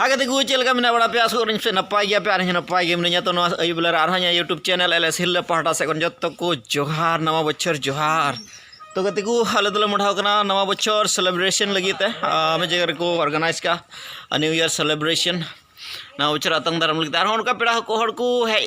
ᱟᱜᱮ ᱫᱮᱜᱩ ᱪᱮᱫ ᱞᱮᱠᱟ ᱢᱮᱱᱟᱜ ᱵᱟᱲᱟ ᱯᱮ ᱟᱥᱚᱜ ᱠᱟᱹᱱᱟᱹᱧ ᱥᱮ ᱱᱟᱯᱟᱭ ᱜᱮᱭᱟ ᱯᱮ ᱟᱨ ᱤᱧ ᱱᱟᱯᱟᱭ ᱜᱮ ᱢᱤᱱᱟᱹᱧᱟ ᱛᱚ ᱱᱚᱣᱟ ᱟᱹᱭᱩᱵ ᱵᱮᱞᱟ ᱨᱮ ᱟᱨᱦᱚᱸ ᱤᱧᱟᱹᱜ ᱭᱩᱴᱩᱵᱽ ᱪᱮᱱᱮᱞ ᱮᱞ ᱮᱥ ᱦᱤᱞᱞᱟᱹ ᱯᱟᱦᱴᱟ ᱥᱮᱫ ᱠᱷᱚᱱ ᱡᱚᱛᱚ ᱠᱚ ᱡᱚᱦᱟᱨ ᱱᱟᱣᱟ ᱵᱚᱪᱷᱚᱨ ᱡᱚᱦᱟᱨ ᱛᱚ ᱜᱟᱛᱮ ᱠᱚ ᱟᱞᱮ ᱫᱚᱞᱮ ᱢᱚᱰᱷᱟᱣ ᱠᱟᱱᱟ ᱱᱟᱣᱟ ᱵᱚᱪᱷᱚᱨ ᱥᱮᱞᱮᱵᱨᱮᱥᱚᱱ ᱞᱟᱹᱜᱤᱫ ᱛᱮ ᱢᱤᱫ ᱡᱟᱭᱜᱟ ᱨᱮᱠᱚ ᱚᱨᱜᱟᱱᱟᱭᱤᱡᱽ ᱠᱟᱜᱼᱟ ᱱᱤᱭᱩ ᱤᱭᱟᱨ ᱥᱮᱞᱮᱵᱨᱮᱥᱚᱱ ᱱᱟᱣᱟ ᱵᱚᱪᱷᱚᱨ ᱟᱛᱟᱝ ᱫᱟᱨᱟᱢ ᱞᱟᱹᱜᱤᱫ ᱟᱨᱦᱚᱸ ᱚᱱᱠᱟ ᱯᱮᱲᱟ ᱦᱚᱲ ᱠᱚ ᱦᱮᱡ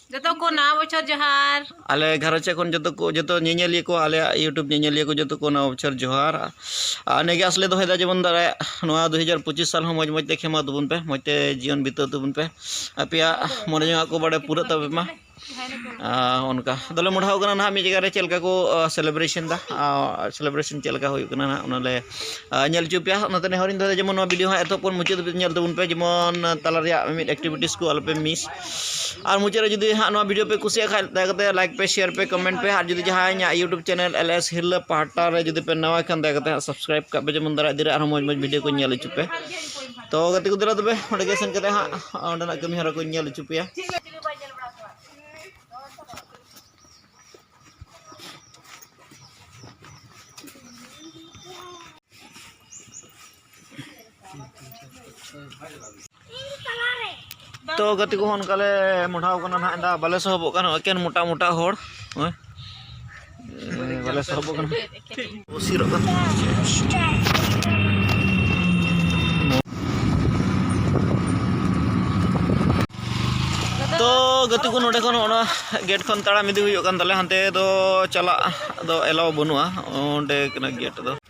ᱡᱚᱛᱚ ᱠᱚ ᱱᱟᱣᱟ ᱵᱚᱪᱷᱚᱨ ᱡᱚᱦᱟᱨ ᱟᱞᱮ ᱜᱷᱟᱨᱚᱸᱡᱽ ᱥᱮᱫ ᱠᱷᱚᱱ ᱡᱚᱛᱚ ᱠᱚ ᱡᱚᱛᱚ ᱧᱮᱧᱮᱞᱤᱭᱟᱹ ᱠᱚ ᱟᱞᱮᱭᱟᱜ ᱤᱭᱩᱴᱩᱵᱽ ᱧᱮᱧᱮᱞᱤᱭᱟᱹ ᱠᱚ ᱡᱚᱛᱚ ᱠᱚ ᱱᱟᱣᱟ ᱵᱚᱪᱷᱚᱨ ᱡᱚᱦᱟᱨ ᱟᱨ ᱱᱤᱭᱟᱹᱜᱮ ᱟᱸᱥ ᱞᱮ ᱫᱚᱦᱚᱭᱮᱫᱟ ᱡᱮᱢᱚᱱ ᱫᱟᱨᱟᱭᱟᱜ ᱱᱚᱣᱟ ᱫᱩ ᱦᱟᱡᱟᱨ ᱯᱚᱸᱪᱤᱥ ᱥᱟᱞ ᱦᱚᱸ ᱢᱚᱡᱽ ᱢᱚᱡᱽ ᱛᱮ ᱠᱷᱮᱢᱟᱣ ᱛᱟᱵᱚᱱ ᱯᱮ ᱢᱚᱡᱽ ᱛᱮ ᱡᱤᱭᱚᱱ ᱵᱤᱛᱟᱹᱣ ᱛᱟᱵᱚᱱ ᱯᱮ ᱟᱯᱮᱭᱟᱜ ᱢᱚᱱᱮ ᱡᱚᱝᱟᱜ ᱠᱚ ᱵᱟᱲᱮ ᱯᱩᱨᱟᱹᱜ ᱛᱟᱯᱮ ᱢᱟ ᱚᱱᱠᱟ ᱟᱫᱚᱞᱮ ᱢᱚᱰᱷᱟᱣ ᱠᱟᱱᱟ ᱱᱟᱦᱟᱜ ᱢᱤᱫ ᱡᱟᱭᱜᱟ ᱨᱮ ᱪᱮᱫ ᱞᱮᱠᱟ ᱠᱚ ᱥᱮᱞᱮᱵᱨᱮᱥᱚᱱ ᱫᱟ ᱥᱮᱞᱮᱵᱨᱮᱥᱚᱱ ᱪᱮᱫ ᱞᱮᱠᱟ ᱦᱩᱭᱩᱜ ᱠᱟᱱᱟ ᱱᱟᱦᱟᱜ ᱚᱱᱟᱞᱮ ᱧᱮᱞ ᱦᱚᱪᱚ ᱯᱮᱭᱟ ᱚᱱᱟᱛᱮ ᱱᱮᱦᱚᱨᱤᱧ ᱫᱚᱦᱚᱭᱮᱫᱟ ᱡᱮᱢᱚᱱ ᱱᱚᱣᱟ ᱵᱷᱤᱰᱤᱭᱳ ᱦᱚᱸ ᱮᱛᱚᱦᱚᱵ ᱠᱷᱚᱱ ᱢᱩᱪᱟᱹᱫ ᱫᱷᱟᱹᱵᱤᱡ ᱧᱮᱞ ᱛᱟᱵᱚᱱ ᱯᱮ ᱡᱮᱢᱚᱱ ᱛᱟᱞᱟ ᱨᱮᱭᱟᱜ ᱢᱤᱢᱤᱫ ᱮᱠᱴᱤᱵᱷᱤᱴᱤᱡᱽ ᱠᱚ ᱟᱞᱚᱯᱮ ᱢᱤᱥ ᱟᱨ ᱢᱩᱪᱟᱹᱫ ᱨᱮ ᱡᱩᱫᱤ ᱦᱟᱸᱜ ᱱᱚᱣᱟ ᱵᱷᱤᱰᱤᱭᱳ ᱯᱮ ᱠᱩᱥᱤᱭᱟᱜ ᱠᱷᱟᱱ ᱫᱟᱭᱟ ᱠᱟᱛᱮ ᱞᱟᱭᱤᱠ ᱯᱮ ᱥᱮᱭᱟᱨ ᱯᱮ ᱠᱚᱢᱮᱱᱴ ᱯᱮ ᱟᱨ ᱡᱩᱫᱤ ᱡᱟᱦᱟᱸᱭ ᱤᱧᱟᱹᱜ ᱤᱭᱩᱴᱩᱵᱽ ᱪᱮᱱᱮᱞ ᱮᱞ ᱮᱥ ᱦᱤᱨᱞᱟᱹ ᱯᱟᱦᱴᱟ ᱨᱮ ᱡᱩᱫᱤ ᱯᱮ ᱱᱟᱣᱟ ᱠᱷᱟᱱ ᱫᱟᱭᱟ ᱠᱟᱛᱮ ᱦᱟᱸᱜ ᱥᱟᱵᱥᱠᱨᱟᱭᱤᱵᱽ ᱠᱟᱜ ᱯᱮ ᱡᱮᱢᱚᱱ ᱫᱟᱨᱟᱭ ᱤᱫᱤ ᱨᱮ ᱟᱨᱦᱚᱸ ᱢᱚᱡᱽ ᱢᱚᱡᱽ ᱵᱷᱤᱰᱤᱭᱳ ᱠᱚ ᱧᱮᱞ ᱦᱚᱪᱚ ᱯᱮ ᱛᱚ ᱜᱟᱛᱮ ᱠᱚ ᱫᱮᱞᱟ ᱛᱚᱵᱮ ᱚᱸᱰᱮ ᱜᱮ ᱥᱮᱱ ᱠᱟᱛᱮ ᱦᱟᱸᱜ ᱚᱸᱰᱮᱱᱟᱜ ᱠᱟᱹᱢᱤ ᱦᱚᱨᱟ ᱠᱚᱧ ᱧᱮᱞ ᱦᱚᱪᱚ ᱯᱮᱭᱟ ᱛᱚ ᱜᱟᱛᱮ ᱠᱚ ᱚᱱᱠᱟ ᱞᱮ ᱢᱚᱰᱷᱟᱣ ᱠᱟᱱᱟ ᱱᱟᱦᱟᱜ ᱫᱟ ᱵᱟᱞᱮ ᱥᱚᱦᱚᱵᱚᱜ ᱠᱟᱱᱟ ᱮᱠᱮᱱ ᱢᱚᱴᱟ ᱢᱚᱴᱟ ᱦᱚᱲ ᱵᱟᱞᱮ ᱥᱚᱦᱚᱵᱚᱜ ᱠᱟᱱᱟ ᱩᱥᱤᱨᱚᱜ ᱠᱟᱱᱟ ᱜᱟᱛᱮ ᱠᱚ ᱱᱚᱰᱮ ᱠᱷᱚᱱ ᱚᱱᱟ ᱜᱮᱴ ᱠᱷᱚᱱ ᱛᱟᱲᱟᱢ ᱤᱫᱤ ᱦᱩᱭᱩᱜ ᱠᱟᱱ ᱛᱟᱞᱮ ᱦᱟᱱᱛᱮ ᱫᱚ ᱪᱟᱞᱟᱜ ᱫᱚ ᱮᱞᱟᱣ ᱵᱟᱹᱱᱩᱜᱼᱟ ᱚᱸᱰᱮ ᱠᱟᱱᱟ ᱜᱮᱴ ᱫᱚ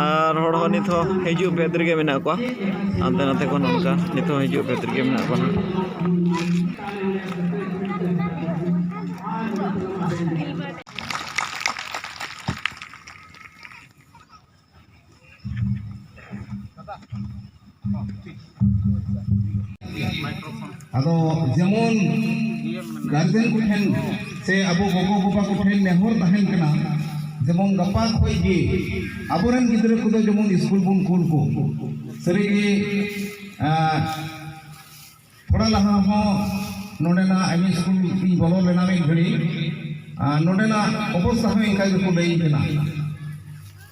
ᱟᱨ ᱦᱚᱲ ᱦᱚᱸ ᱱᱤᱛ ᱦᱚᱸ ᱦᱤᱡᱩᱜ ᱵᱷᱮᱫᱽ ᱨᱮᱜᱮ ᱢᱮᱱᱟᱜ ᱠᱚᱣᱟ ᱦᱟᱱᱛᱮ ᱱᱟᱛᱮ ᱠᱷᱚᱱ ᱚᱱᱠᱟ ᱱᱤᱛ ᱦᱚᱸ ᱦᱤᱡᱩᱜ ᱵᱷᱮᱫᱽ ᱨᱮᱜᱮ ᱢᱮᱱᱟᱜ ᱠᱚᱣᱟ ᱦᱟᱸᱜ ᱟᱫᱚ ᱡᱮᱢᱚᱱ ᱜᱟᱨᱡᱮᱱ ᱠᱚᱴᱷᱮᱱ ᱥᱮ ᱟᱵᱚ ᱜᱚᱜᱚ ᱵᱟᱵᱟ ᱠᱚᱴᱷᱮᱱ ᱱᱮᱦᱚᱨ ᱛᱟᱦᱮᱱ ᱠᱟᱱᱟ ᱡᱮᱢᱚᱱ ᱜᱟᱯᱟ ᱠᱷᱚᱡ ᱜᱮ ᱟᱵᱚᱨᱮᱱ ᱜᱤᱫᱽᱨᱟᱹ ᱠᱚᱫᱚ ᱡᱮᱢᱚᱱ ᱥᱠᱩᱞ ᱵᱚᱱ ᱠᱩᱞ ᱠᱚ ᱥᱟᱹᱨᱤᱜᱮ ᱛᱷᱚᱲᱟ ᱞᱟᱦᱟ ᱦᱚᱸ ᱱᱚᱰᱮᱱᱟᱜ ᱮᱢ ᱮ ᱥᱠᱩᱞ ᱤᱧ ᱵᱚᱞᱚ ᱞᱮᱱᱟ ᱢᱤᱫ ᱜᱷᱟᱹᱲᱤ ᱟᱨ ᱱᱚᱰᱮᱱᱟᱜ ᱚᱵᱚᱥᱛᱟ ᱦᱚᱸ ᱤᱱᱠᱟ ᱜᱮᱠᱚ ᱞᱟᱹᱭᱤᱧ ᱠᱟᱱᱟ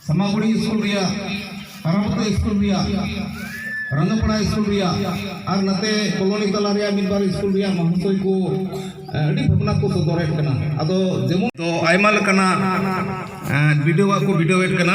ᱥᱟᱢᱟᱜᱩᱲᱤ ᱥᱠᱩᱞ ᱨᱮᱭᱟᱜ ᱟᱨᱟᱵᱚᱛᱟ ᱥᱠᱩᱞ ᱨᱮᱭᱟᱜ ᱨᱟᱝᱜᱟᱯᱟᱲᱟ ᱥᱠᱩᱞ ᱨᱮᱭᱟᱜ ᱟᱨ ᱱᱟᱛᱮ ᱠᱚᱞᱚᱱᱤ ᱛᱟᱞᱟ ᱨᱮᱭᱟᱜ ᱢᱤᱫ ᱵᱟᱨ ᱥᱠᱩᱞ ᱨᱮᱭᱟᱜ ᱢᱟᱦᱟᱥᱚᱭ ᱠᱚ ᱟᱹᱰᱤ ᱵᱷᱟᱵᱽᱱᱟ ᱠᱚ ᱥᱚᱫᱚᱨᱮᱫ ᱠᱟᱱᱟ ᱟᱫᱚ ᱡᱮᱢᱚᱱ ᱫᱚ ᱟᱭᱢᱟ ᱞᱮᱠᱟᱱᱟᱜ ᱵᱤᱰᱟᱹᱣᱟᱜ ᱠᱚ ᱵᱤᱰᱟᱹᱣᱮᱫ ᱠᱟᱱᱟ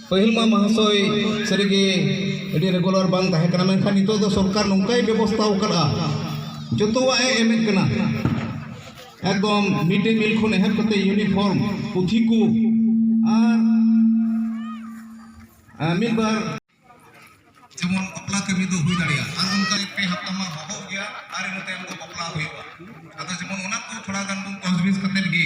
ᱯᱟᱹᱦᱤᱞ ᱢᱟ ᱢᱚᱦᱟᱥᱚᱭ ᱥᱟᱹᱨᱤᱜᱮ ᱟᱹᱰᱤ ᱨᱮᱜᱩᱞᱟᱨ ᱵᱟᱝ ᱛᱟᱦᱮᱸ ᱠᱟᱱᱟ ᱢᱮᱱᱠᱷᱟᱱ ᱱᱤᱛᱚᱜ ᱫᱚ ᱥᱚᱨᱠᱟᱨ ᱱᱚᱝᱠᱟᱭ ᱵᱮᱵᱚᱥᱛᱷᱟ ᱟᱠᱟᱫᱼᱟ ᱡᱚᱛᱚᱣᱟᱜ ᱮ ᱮᱢᱮᱫ ᱠᱟᱱᱟ ᱮᱠᱫᱚᱢ ᱢᱤᱰ ᱰᱮ ᱢᱤᱞ ᱠᱷᱚᱱ ᱮᱦᱚᱵ ᱠᱟᱛᱮ ᱤᱭᱩᱱᱤᱯᱷᱚᱨᱢ ᱯᱩᱛᱷᱤ ᱠᱚ ᱟᱨ ᱟᱨ ᱢᱤᱫ ᱵᱟᱨ ᱡᱮᱢᱚᱱ ᱵᱟᱯᱞᱟ ᱠᱟᱹᱢᱤ ᱫᱚ ᱦᱩᱭ ᱫᱟᱲᱮᱭᱟᱜᱼᱟ ᱟᱨ ᱚᱱᱠᱟ ᱯᱮ ᱦᱟᱯᱛᱟ ᱢᱟ ᱵᱚᱦᱚᱜ ᱜᱮᱭᱟ ᱟᱨ ᱤᱱᱟᱹ ᱛᱟᱭᱚᱢ ᱫᱚ ᱵᱟᱯᱞᱟ ᱦᱩᱭᱩᱜᱼᱟ ᱟᱫᱚ ᱡᱮᱢᱚᱱ ᱚᱱᱟ ᱠᱚ ᱛᱷᱚᱲᱟ ᱜᱟᱱ ᱵᱚᱱ ᱛᱚᱡᱽᱵᱤᱡᱽ ᱠᱟᱛᱮᱫ ᱜᱮ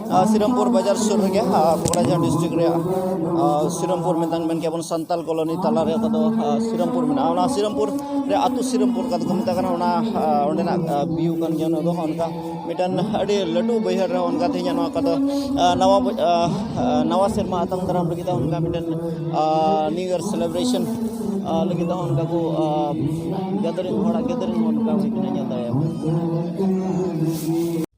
ᱥᱤᱨᱟᱢᱯᱩᱨ ᱵᱟᱡᱟᱨ ᱥᱩᱨ ᱨᱮᱜᱮ ᱯᱚᱠᱲᱟᱡᱷᱟᱨ ᱰᱤᱥᱴᱨᱤᱠᱴ ᱨᱮᱭᱟᱜ ᱥᱤᱨᱟᱢᱯᱩᱨ ᱢᱮᱛᱟᱱ ᱢᱮᱱ ᱠᱮᱭᱟ ᱵᱚᱱ ᱥᱟᱱᱛᱟᱞ ᱠᱚᱞᱚᱱᱤ ᱛᱟᱞᱟ ᱨᱮ ᱚᱠᱟᱫᱚ ᱥᱤᱨᱟᱢᱯᱩᱨ ᱢᱮᱱᱟᱜᱼᱟ ᱚᱱᱟ ᱥᱤᱨᱟᱢᱯᱩᱨ ᱨᱮ ᱟᱛᱳ ᱥᱤᱨᱟᱢᱯᱩᱨ ᱠᱟᱛᱮ ᱠᱚ ᱢᱮᱛᱟᱜ ᱠᱟᱱᱟ ᱚᱱᱟ ᱚᱸᱰᱮᱱᱟᱜ ᱵᱷᱤᱭᱩ ᱠᱟᱱ ᱜᱮᱭᱟ ᱚᱱᱟ ᱫᱚ ᱚᱱᱠᱟ ᱢᱤᱫᱴᱟᱱ ᱟᱹᱰᱤ ᱞᱟᱹᱴᱩ ᱵᱟᱹᱭᱦᱟᱹᱲ ᱨᱮ ᱚᱱᱠᱟ ᱛᱮᱦᱮᱧᱟᱜ ᱱᱚᱣᱟ ᱚᱠᱟᱫᱚ ᱱᱟᱣᱟ ᱱᱟᱣᱟ ᱥᱮᱨᱢᱟ ᱟᱛᱟᱝ ᱫᱟᱨᱟᱢ ᱞᱟᱹᱜᱤᱫ ᱚᱱᱠᱟ ᱢᱤᱫᱴᱟᱱ ᱱᱤᱭᱩ ᱤᱭᱟᱨ ᱥᱮᱞᱮᱵᱨᱮᱥᱚᱱ ᱞᱟᱹᱜᱤᱫ ᱦᱚᱸ ᱚᱱᱠᱟ ᱠᱚ ᱜᱮᱫᱟᱨᱤᱝ ᱦᱚᱲᱟᱜ ᱜᱮᱫᱟᱨᱤᱝ ᱦᱚᱸ ᱚᱱᱠᱟ ᱦᱩᱭ ᱠᱟᱱᱟ ᱧᱮᱞ ᱫᱟᱲᱮᱭᱟᱜᱼᱟ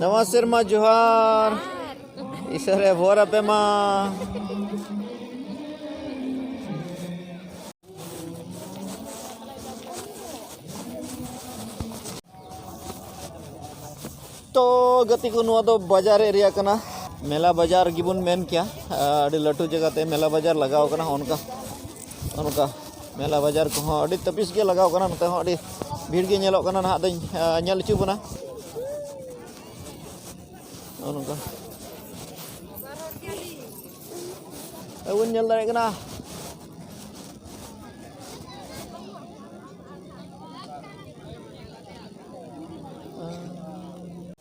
ᱱᱟᱣᱟ ᱥᱮᱨᱢᱟ ᱡᱚᱦᱟᱨ ᱤᱥᱟᱹᱨᱮ ᱵᱷᱚᱨ ᱟᱯᱮ ᱢᱟ ᱛᱚ ᱜᱟᱛᱮ ᱠᱚ ᱱᱚᱣᱟ ᱫᱚ ᱵᱟᱡᱟᱨ ᱮᱨᱤᱭᱟ ᱠᱟᱱᱟ ᱢᱮᱞᱟ ᱵᱟᱡᱟᱨ ᱜᱮᱵᱚᱱ ᱢᱮᱱ ᱠᱮᱭᱟ ᱟᱹᱰᱤ ᱞᱟᱹᱴᱩ ᱡᱟᱭᱜᱟᱛᱮ ᱢᱮᱞᱟ ᱵᱟᱡᱟᱨ ᱞᱟᱜᱟᱣ ᱠᱟᱱᱟ ᱚᱱᱠᱟ ᱚᱱᱠᱟ ᱢᱮᱞᱟ ᱵᱟᱡᱟᱨ ᱠᱚᱦᱚᱸ ᱟᱹᱰᱤ ᱛᱟᱹᱯᱤᱥ ᱜᱮ ᱞᱟᱜᱟᱣ ᱠᱟᱱᱟ ᱱᱚᱛᱮ ᱦᱚᱸ ᱟᱹᱰᱤ ᱵᱷᱤᱲ ᱜᱮ ᱧᱮᱞᱚᱜ ᱠᱟᱱᱟ ᱱᱟᱦᱟᱜ ᱫᱚᱧ ᱧᱮᱞ ᱦᱚᱪᱚ ᱵᱚᱱᱟ ᱚᱱᱠᱟ ᱵᱟᱵᱚᱱ ᱧᱮᱞ ᱫᱟᱲᱮᱭᱟᱜ ᱠᱟᱱᱟ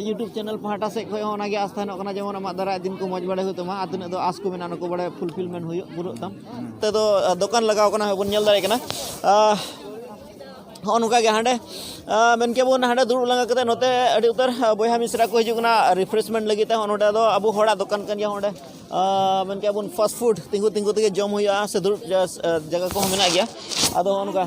ᱤᱭᱩᱴᱩᱵᱽ ᱪᱮᱱᱮᱞ ᱯᱟᱦᱴᱟ ᱥᱮᱫ ᱠᱷᱚᱱ ᱦᱚᱸ ᱚᱱᱟ ᱜᱮ ᱟᱸᱥ ᱛᱟᱦᱮᱱᱚᱜ ᱠᱟᱱᱟ ᱡᱮᱢᱚᱱ ᱟᱢᱟᱜ ᱫᱟᱨᱟᱭ ᱫᱤᱱ ᱠᱚ ᱢᱚᱡᱽ ᱵᱟᱲᱟᱭ ᱦᱩᱭᱩᱜ ᱛᱟᱢᱟ ᱟᱨ ᱛᱤᱱᱟᱹᱜ ᱫᱚ ᱟᱸᱥ ᱠᱚ ᱢᱮᱱᱟᱜᱼᱟ ᱚᱱᱟ ᱠᱚ ᱵᱟᱲᱟᱭ ᱯᱷᱩᱞᱯᱷᱤᱞᱢᱮᱱᱴ ᱦᱩᱭᱩᱜ ᱯᱩᱨᱟᱹᱜ ᱛᱟᱢ ᱱᱚᱛᱮ ᱫᱚ ᱫᱚᱠᱟᱱ ᱞᱟᱜᱟᱣ ᱠᱟᱱᱟ ᱵᱚᱱ ᱧᱮᱞ ᱫᱟᱲᱮᱭᱟᱜ ᱠᱟᱱᱟ ᱦᱚᱸ ᱱᱚᱝᱠᱟ ᱜᱮ ᱦᱟᱸᱰᱮ ᱢᱮᱱ ᱠᱮᱫ ᱵᱚᱱ ᱦᱟᱸᱰᱮ ᱫᱩᱲᱩᱵ ᱞᱟᱸᱜᱟ ᱠᱟᱛᱮ ᱱᱚᱛᱮ ᱟᱹᱰᱤ ᱩᱛᱟᱹᱨ ᱵᱚᱭᱦᱟ ᱢᱤᱥᱨᱟ ᱠᱚ ᱦᱤᱡᱩᱜ ᱠᱟᱱᱟ ᱨᱤᱯᱷᱨᱮᱥᱢᱮᱱᱴ ᱞᱟᱹᱜᱤᱫ ᱛᱮ ᱦᱚᱸ ᱱᱚᱰᱮ ᱫᱚ ᱟᱵᱚ ᱦᱚᱲᱟᱜ ᱫᱚᱠᱟᱱ ᱠᱟᱱ ᱜᱮᱭᱟ ᱚᱸᱰᱮ ᱢᱮᱱ ᱠᱮᱫ ᱵᱚᱱ ᱯᱷᱟᱥᱴ ᱯᱷᱩᱰ ᱛᱤᱸᱜᱩ ᱛᱤᱸᱜᱩ ᱛᱮᱜᱮ ᱡᱚᱢ ᱦᱩᱭᱩᱜᱼᱟ ᱥᱮ ᱫᱩᱲᱩᱵ ᱡᱟᱭᱜᱟ ᱠᱚᱦᱚᱸ ᱢᱮᱱᱟᱜ ᱜᱮᱭᱟ ᱟᱫᱚ ᱦᱚᱸᱜᱼᱚ ᱱᱚᱝᱠᱟ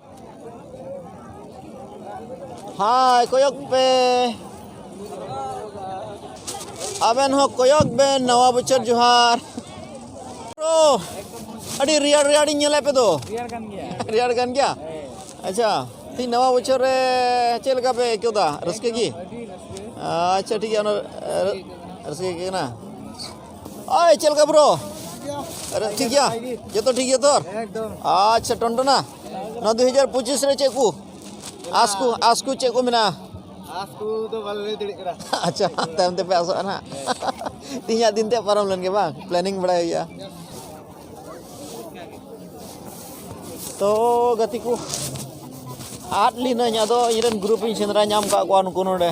ᱦᱟᱭ ᱠᱚᱭᱚᱠ ᱯᱮ ᱟᱵᱮᱱ ᱦᱚᱸ ᱠᱚᱭᱚᱠ ᱵᱮᱱ ᱱᱟᱣᱟ ᱵᱚᱪᱷᱚᱨ ᱡᱚᱦᱟᱨ ᱟᱹᱰᱤ ᱨᱮᱭᱟᱲ ᱨᱮᱭᱟᱲᱤᱧ ᱧᱮᱞᱮ ᱯᱮ ᱫᱚ ᱨᱮᱭᱟᱲ ᱠᱟᱱ ᱜᱮᱭᱟ ᱨᱮᱭᱟᱲ ᱠᱟᱱ ᱜᱮᱭᱟ ᱟᱪᱪᱷᱟ ᱛᱤᱦᱤᱧ ᱱᱟᱣᱟ ᱵᱚᱪᱷᱚᱨ ᱨᱮ ᱪᱮᱫ ᱞᱮᱠᱟ ᱯᱮ ᱟᱹᱭᱠᱟᱹᱣ ᱫᱟ ᱨᱟᱹᱥᱠᱟᱹ ᱜᱮ ᱟᱪᱪᱷᱟ ᱴᱷᱤᱠ ᱜᱮᱭᱟ ᱚᱱᱟ ᱨᱟᱹᱥᱠᱟᱹ ᱜᱮ ᱠᱟᱱᱟ ᱟᱭ ᱪᱮᱫ ᱞᱮᱠᱟ ᱵᱨᱳ ᱟᱨᱮ ᱴᱷᱤᱠ ᱜᱮᱭᱟ ᱡᱚᱛᱚ ᱴᱷᱤᱠ ᱜᱮᱭᱟ ᱛᱚᱨ ᱟᱪᱪᱷᱟ ᱴᱚᱱᱴᱚᱱᱟ ᱱᱚᱣᱟ ᱫᱩ ᱦᱟᱡᱟᱨ ᱯᱚᱸᱪᱤᱥ ᱨᱮ ᱪᱮᱫ ᱠᱚ ᱟᱥ ᱠᱚ ᱟᱥ ᱠᱚ ᱪᱮᱫ ᱠᱚ ᱢᱮᱱᱟᱜᱼᱟ ᱟᱥ ᱠᱚ ᱫᱚ ᱵᱟᱞᱮ ᱞᱟᱹᱭ ᱫᱟᱲᱮᱭᱟᱜ ᱠᱟᱱᱟ ᱟᱪᱪᱷᱟ ᱛᱟᱭᱚᱢ ᱛᱮᱯᱮ ᱟᱥᱚᱜᱼᱟ ᱱᱟᱦᱟᱜ ᱛᱮᱦᱮᱧᱟᱜ ᱫᱤᱱ ᱛᱮ ᱯᱟᱨᱚᱢ ᱞᱮᱱ ᱜᱮ ᱵᱟᱝ ᱯᱞᱮᱱᱤᱝ ᱵᱟᱲᱟᱭ ᱦᱩᱭᱩᱜᱼᱟ ᱛᱚ ᱜᱟᱛᱮ ᱠᱚ ᱟᱫ ᱞᱤᱱᱟᱹᱧ ᱟᱫᱚ ᱤᱧᱨᱮᱱ ᱜᱨᱩᱯ ᱤᱧ ᱥᱮᱸᱫᱽᱨᱟ ᱧᱟᱢ ᱠᱟᱜ ᱠᱚᱣᱟ ᱱᱩᱠᱩ ᱱᱚᱰᱮ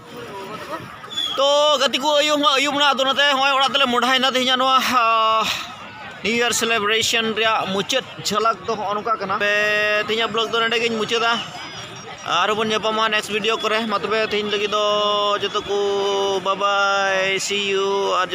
ᱛᱚ ᱜᱟᱛᱮ ᱠᱚ ᱟᱹᱭᱩᱵ ᱦᱚᱸ ᱟᱹᱭᱩᱵ ᱮᱱᱟ ᱟᱫᱚ ᱚᱱᱟᱛᱮ ᱦᱚᱸᱜᱼᱚᱭ ᱚᱲᱟᱜ ᱛᱮᱞᱮ ᱢᱚᱰᱟᱭᱮᱱᱟ ᱛᱮᱦᱮᱧᱟᱜ ᱱᱚᱣᱟ ᱱᱤᱭᱩ ᱤᱭᱟᱨ ᱥᱮᱞᱮᱵᱨᱮᱥᱚᱱ ᱨᱮᱭᱟᱜ ᱢᱩᱪᱟᱹᱫ ᱡᱷᱟᱞᱟᱠ ᱫᱚ ᱦᱚᱸᱜᱼᱚ ᱱᱚᱝᱠᱟ ᱠᱟᱱᱟ ᱛᱮᱦᱮᱧᱟᱜ ᱵᱞᱚᱜ ᱫᱚ ᱱᱚᱰᱮ ᱜᱤᱧ ᱢᱩᱪᱟᱹᱫᱟ ᱟᱨᱦᱚᱸ ᱵᱚᱱ ᱧᱟᱯᱟᱢᱟ ᱱᱮᱠᱥᱴ ᱵᱷᱤᱰᱤᱭᱳ ᱠᱚᱨᱮ ᱢᱟ ᱛᱚᱵᱮ ᱛᱮᱦᱮᱧ ᱞᱟᱹᱜᱤᱫ ᱫᱚ ᱡᱚᱛᱚ ᱠᱚ ᱵᱟᱵᱟᱭ ᱥᱤ ᱤᱭᱩ ᱟᱨ